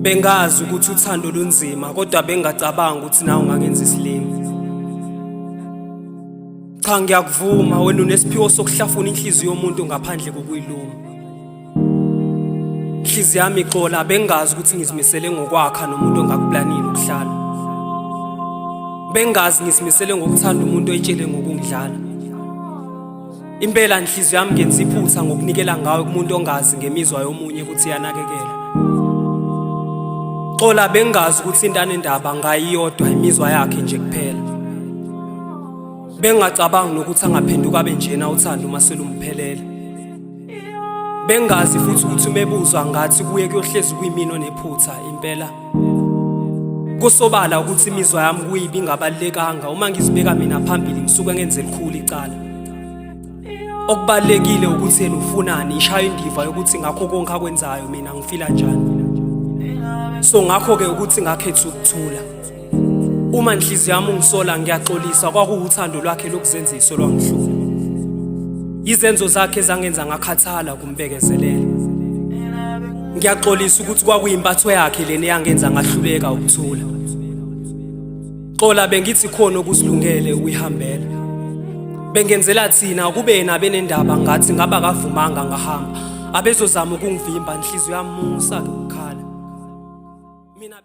Bengazi ukuthi uthando lunzima kodwa bengacabanga ukuthi nawe ungangenza isilima. Cha ngiyakuvuma wena unesiphiwo sokuhlafuna inhliziyo yomuntu ngaphandle kokuyiluma. Inhliziyo yami ixola bengazi ukuthi ngizimisele ngokwakha nomuntu ongakuplanile ukuhlala. Bengazi ngizimisele ngokuthanda umuntu oyitshele ngokungidlala. Impela inhliziyo yami ngenza iphutha ngokunikela ngawe kumuntu ongazi ngemizwa yomunye ukuthi yanakekela. Xola bengazi ukuthi intane ndaba ngayiyodwa imizwa yakhe nje kuphela. Bengacabangi nokuthi angaphenduka abe njena uthando uma selumphelele. Bengazi futhi ukuthi umebuzwa ngathi kuye kuyohlezi kuyimino nephutha impela. Kusobala ukuthi imizwa yami kuyibi ingabalekanga uma ngizibeka mina phambili ngisuke ngenze likhulu icala. Okubalekile ukuthi yena ufunani ishaya indiva yokuthi ngakho konke akwenzayo mina ngifila njani. So ngakho ke ukuthi ngakhetha ukuthula. Uma inhliziyo yami ungisola ngiyaxolisa kwakuwuthando lwakhe lokuzenziso lwangihlula. Izenzo zakhe zangenza ngakhathala kumbekezelela. Ngiyaxolisa ukuthi kwakuyimpatho yakhe lena eyangenza ngahluleka ukuthula. Xola bengithi khona okusilungele ukuyihambela. Bengenzela thina kube yena benendaba ngathi ngaba kavumanga ngahamba. Abezozama ukungivimba inhliziyo yamusa ke ukukhala. Mina